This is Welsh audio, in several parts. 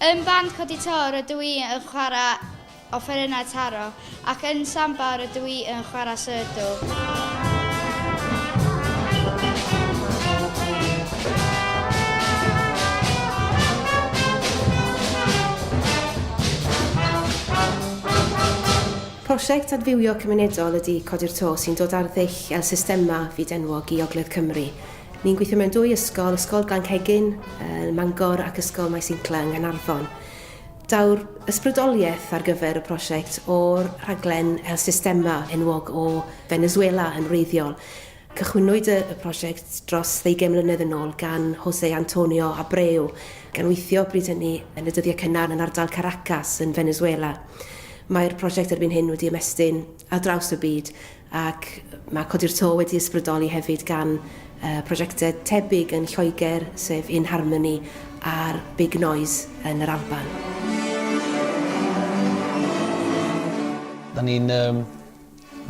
Yn band codi to rydw i yn chwarae offerynnau taro ac yn samba rydw i yn chwarae surdw. Prosiect adfywio cymunedol ydy Codi'r To sy'n dod ar ddull fel systemau fyd-enwog i Ogledd Cymru. Ni'n gweithio mewn dwy ysgol, Ysgol Glanhegin yn Mangor ac Ysgol Maes Incla yng Nghaernarfon. Daw'r ysbrydoliaeth ar gyfer y prosiect o'r rhaglen El Sistema enwog o Venezuela yn wreiddiol. Cychwynnwyd y prosiect dros ddeugain mlynedd yn ôl gan Jose Antonio Abreu, gan weithio bryd hynny yn y dyddiau cynnar yn ardal Caracas yn Venezuela. Mae'r prosiect erbyn hyn wedi ymestyn ar draws y byd ac mae Codi'r To wedi ysbrydoli hefyd gan prosiectau tebyg yn Lloegr sef In Harmony a'r Big Noise yn yr Alban. Da ni'n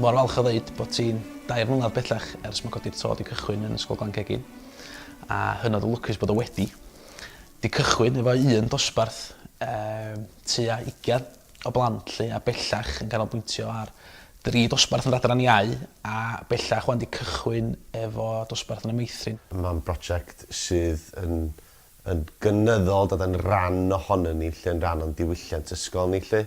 mor falch o ddeud bod ti'n dair mlynedd bellach ers mae Codi'r To wedi cychwyn yn Ysgol Glan Cegin a hynod o lwcus bod o wedi 'di cychwyn efo un dosbarth tua ugain. o blant 'lly a bellach yn canolbwyntio ar dri dosbarth yn yr Adran Iau a bellach 'wan 'di cychwyn efo dosbarth yn y Meithrin. Mae'n brosiect sydd yn yn gynyddol dod yn ran ohonon ni 'lly, yn ran o'n diwylliant ysgol ni 'lly.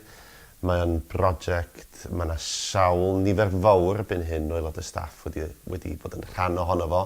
Mae o'n brosiect ma' 'na sawl nifer fowr erbyn hyn o aelodau staff wedi wedi bod yn rhan ohono fo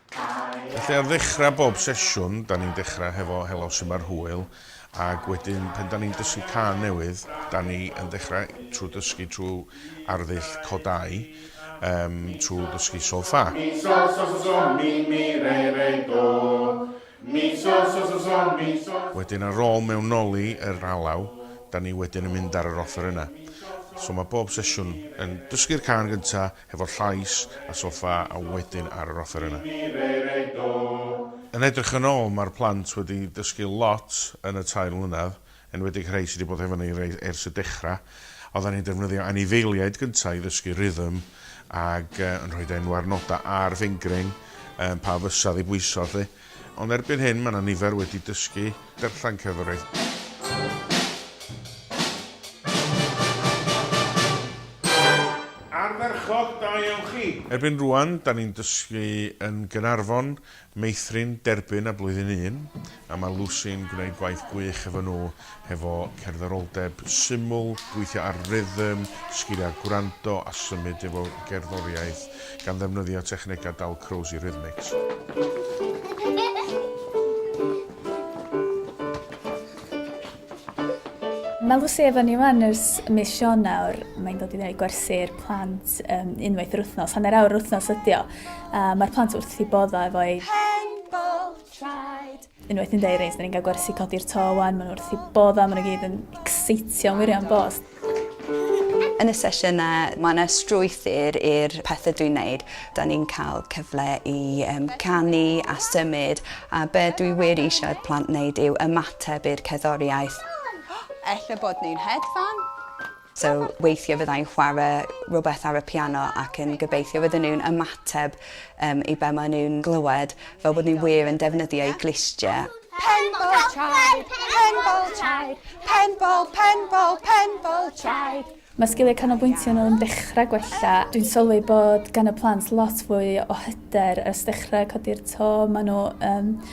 Felly ar ddechrau bob sesiwn, da ni'n dechrau hefo Helo su' mae'r hwyl, ac wedyn pan da ni'n dysgu cân newydd, da ni yn dechrau trwy dysgu trwy arddull codau, yym trwy ddysgu sol ffa. Mi sol sol sol sol mi mi re re do Mi sol sol sol sol mi sol. Wedyn ar ôl mewnoli yr alaw, da ni wedyn yn mynd ar yr offerynnau. So mae bob sesiwn yn dysgu'r cân gynta', hefo'r llais a soffa a wedyn ar yr offeryna. Yn edrych yn ôl mae'r plant wedi dysgu lot yn y tair mlynedd, enwedig rhei sydd wedi bod hefo ni ers y dechrau. Oeddan ni'n defnyddio anifeiliaid gynta' i ddysgu rhythm ag yn rhoid enw ar nodau ar fingring, pa fysa ddi bwyso 'lly. Ond erbyn hyn mae 'na nifer wedi dysgu darllen cerddoriaeth. Ardderchog, da iawn chi! Erbyn rŵan, 'da ni'n dysgu yn Gaernarfon, Meithrin, Derbyn a Blwyddyn Un, a mae Lucy'n gwneud gwaith gwych efo nhw hefo cerddaroldeb syml, gweithio ar rythm, sgiliau gwrando a symud efo gerddoriaeth, gan ddefnyddio technegau Dalcroze i Rhythmics. Malu sy efo ni wan ers mis Ionawr, mae'n dod i fewn i gwersi'r plant yym unwaith yr wythnos, hanner awr yr wythnos ydi o, a ma'r plant wrth 'u bodda' efo'i... Hen bwrdd traed! Unwaith ni'n deud reins, da ni'n cael gwersi codi'r to wan, maen nhw wrth i bodd am, maen nhw gyd yn exeitio wirion bos. Yn y sesiynau, mae yna strwythyr i'r pethau dwi'n neud. Da ni'n cael cyfle i um, canu a symud, a be dwi wir eisiau plant wneud yw ymateb i'r cerddoriaeth. Ella bod ni'n hedfan. So weithiau fydda i'n chwarae rhywbeth ar y piano ac yn gobeithio fydden nhw'n ymateb um, i be maen nhw'n glywed, fel bod ni wir yn defnyddio eu glustiau. Penbol traed, penbol traed, penbol, penbol, penbol traed. Mae sgiliau canolbwyntio yn ôl dechrau gwella. Dwi'n sylwi bod gan y plant lot fwy o hyder ers dechrau codi'r to. Maen nhw um,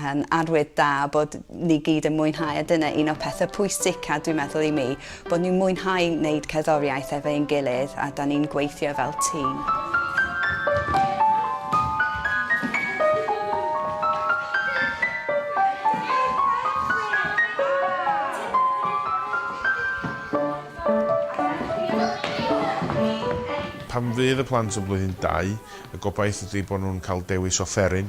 yn arwydd da bod ni gyd yn mwynhau a dyna un o'r pethau pwysica dwi'n meddwl i mi, bod ni'n mwynhau wneud cerddoriaeth efo ein gilydd a da ni'n gweithio fel tîm. Pan fydd y plant yn blwyddyn dau, y gobaith ydy bod nhw'n cael dewis offeryn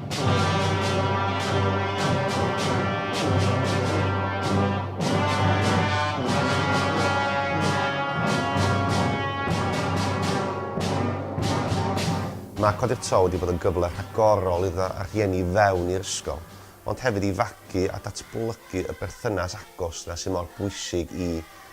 Mae Codi'r Tro wedi bod yn gyfle rhagorol iddo a rhieni fewn i'r ysgol, ond hefyd i fagu a datblygu y berthynas agos 'na sydd mor bwysig i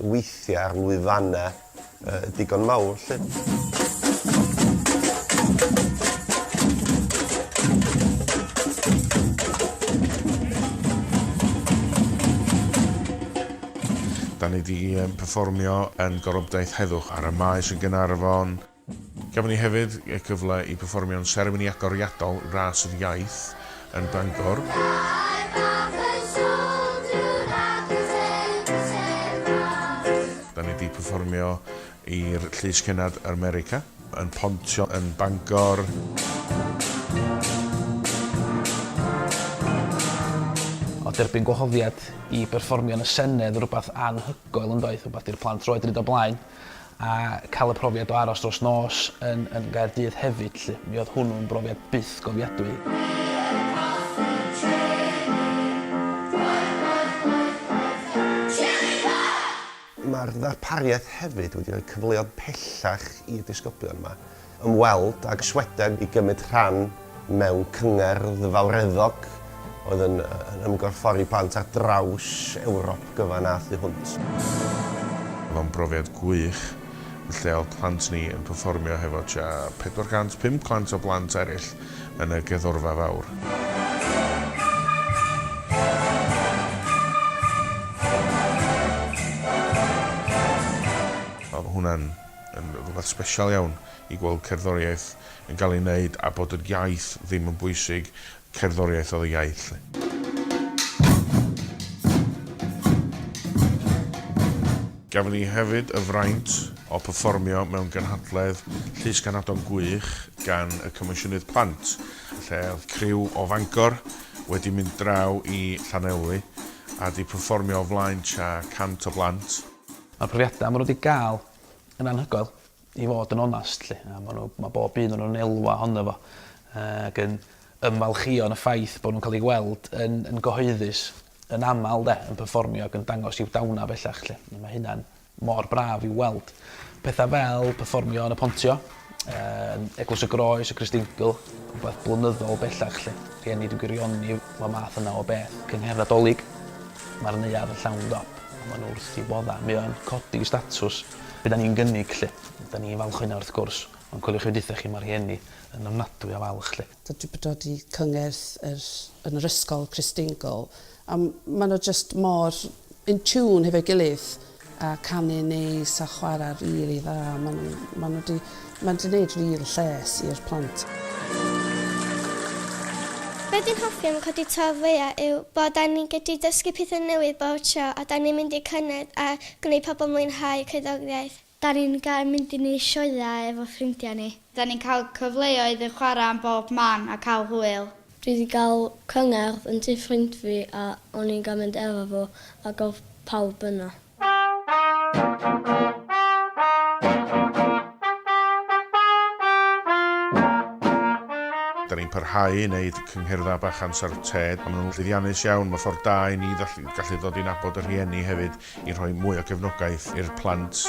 weithio ar lwyfannau digon mawr 'lly. Da ni 'di perfformio yn Gorobdaith Heddwch ar y Maes yn Gaernarfon. Gafon ni hefyd y cyfle i pefformio'n seremoni agoriadol Ras yr Iaith yn Bangor. Da ni 'di pefformio i'r Llys Cennad yr America yn Pontio yn Bangor. O derbyn gwahoddiad i berfformio yn y Senedd rwbath anhygoel yndoedd? Rwbath di'r plant roed 'di neud o blaen. a cael y profiad o aros dros nos yn yn Gaerdydd hefyd 'lly. Mi oedd hwnnw'n brofiad byth gofiadwy. Mae'r ddarpariaeth hefyd wedi rhoi cyfleodd pellach i'r disgyblion 'ma ymweld ag Sweden i gymryd rhan mewn cyngerdd fawreddog oedd yn ymgorffori plant ar draws Ewrop gyfan a thu hwnt. Oedd o'n brofiad gwych, yn lle oedd plant ni yn perfformio hefo tua 450 o blant eraill yn y geddorfa fawr. Oedd hwnna'n yn rhywbeth sbesial iawn i gweld cerddoriaeth yn cael ei wneud a bod yr iaith ddim yn bwysig, cerddoriaeth oedd y iaith 'lly. Gafon ni hefyd y fraint o perfformio mewn gynhadledd Llys Ganadon gwych gan y Comisiynnydd Plant, lle oedd criw o Fangor wedi mynd draw i Llanelwy a 'di perfformio o flaen tua 100 o blant. Ma'r profiada ma' n'w 'di ga'l yn anhygoel i fod yn onast 'lly a ma' n'w ma' bob un o nw'n elwa ohono fo yy ag yn ymfalchïo yn y ffaith bo' nw'n ca'l 'u gweld yn yn gyhoeddus yn amal 'de yn perfformio ag yn dangos i'w dawna bellach 'lly a ma' hynna'n mor braf i'w weld. Petha fel perfformio yn y Pontio Yym, Eglwys y Groes, y Cristdeingl, rhywbeth blynyddol bellach 'lly. Rhieni dwi'n gwirioni fy math yna o beth. Cynghrair Nadolig, mae'r neuadd yn llawn dop, a maen nhw wrth eu boddau. Mae o'n codi statws be da ni'n gynnig 'lly. Da ni'n falch o hynna wrth gwrs, ond coeliwch chi be dwytha chi, mae rhieni yn ofnadwy o falch 'lly. Dwi 'di dod i cyngerdd yr yn yr ysgol Christingle a ma' nhw jyst mor in tune hefo'i gilydd a canu'n neis a chwara rili dda ma' nhw ma' nhw 'di ma' 'di neud ril lles i'r plant. Be fi'n hoffi am codi tâl fwya yw bo da ni gyllu dysgu pethe newydd bob tro a da ni'n mynd i cyngerdd a gwneu pobl mwynhau cerddoriaeth. Da ni'n gael mynd i ni sioeau efo ffrindiau ni. Da ni'n cael cyfleoedd i chwarae am bob man a cael hwyl. Dwi 'di gael cyngerdd yn tŷ ffrind fi a o'n i'n gael mynd efo fo ac oedd pawb yna. Da ni'n parhau i wneud cyngherddau bach amser ted a maen nhw'n llwyddiannus iawn. Mae ffordd da i ni gallu dod i nabod y rhieni hefyd. i rhoi mwy o gefnogaeth i'r plant.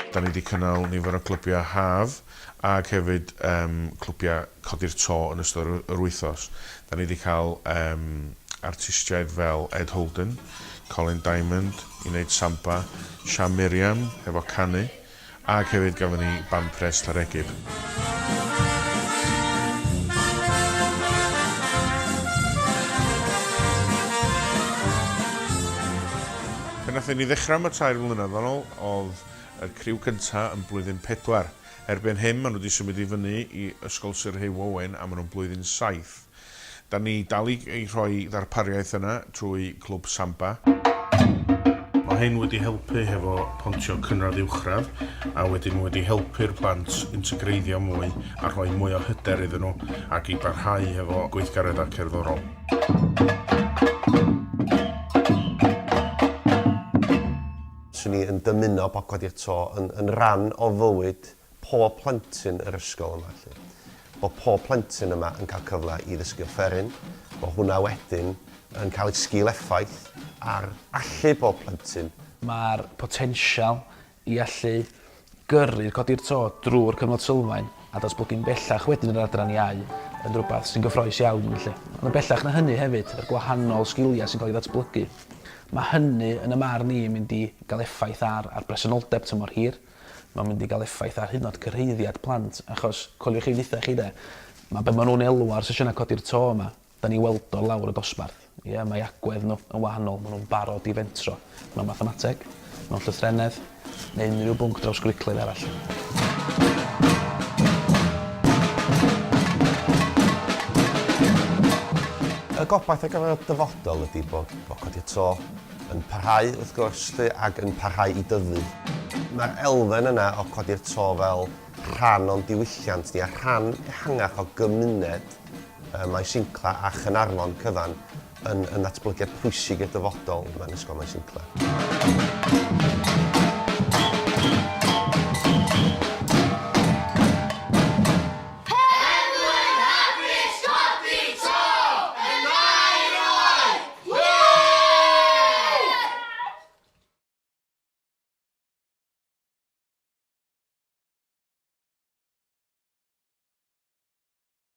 Da ni wedi cynnal nifer o glybiau haf. Ac hefyd yym clwbiau codi'r to yn ystod yr yr wythnos. Dan ni wedi cael yym artistiaid fel Ed Holden, Colin Diamond i wneud samba, Sham Miriam hefo canu, ac hefyd gafon ni band pres Llareggub. Pan nathon ni ddechra' 'ma tair mlynadd yn ol o'dd y criw cynta yn blwyddyn pedwar. Erbyn hyn ma nhw di symud i fyny i Ysgol Syr Hugh Owen a ma nhw'n blwyddyn saith. Da ni dal i i rhoi ddarpariaeth yna trwy Clwb Samba. Ma hyn wedi helpu hefo pontio cynradd uwchradd a wedyn ma wedi helpu'r plant integreiddio mwy a rhoi mwy o hyder iddyn nhw ac i barhau hefo gweithgaredda cerddorol. 'Swn i yn dymuno bod Codi'r To yn yn ran o fywyd pob plentyn yr ysgol yma 'lly. Bod pob plentyn yma yn cael cyfle i ddysgu offeryn, bod hwnna wedyn yn cael ei sgil effaith ar allu pob plentyn. Mae'r potensial i allu Gyrru a codi'r to drwy'r cyfnod sylfaen a datblygu'n bellach wedyn yn yr adran iau yn rhywbeth sy'n gyffrous iawn felly. Ond yn bellach na hynny hefyd, yr gwahanol sgiliau sy'n cael eu datblygu. Mae hynny, yn y marn i, yn mynd i gael effaith ar ar bresenoldeb tymor hir, mae'n mynd i gael effaith ar hyd yn oed cyrhaeddiad plant achos coeliwch ei ddithe chi de, mae be maen nhw'n elw ar sesiynau codi'r to yma, Da ni weld o lawr y dosbarth. Ie, mae agwedd nhw yn wahanol, maen nhw'n barod i fentro mewn mathemateg, mewn llythrennedd, neu unrhyw bwnc drawsgwricwlaidd arall. Y gobaith ar gyfer y dyfodol ydy bod bod Codi y Tro yn parhau wrth gwrs 'lly ac yn parhau i dyfu. Mae'r elfen yna o Codi'r Tro fel rhan o'n diwylliant ni a rhan ehangach o gymuned Maes Incla a Chaernarfon cyfan yn yn ddatblygiad pwysig i'r dyfodol mewn Ysgol Maes Incla.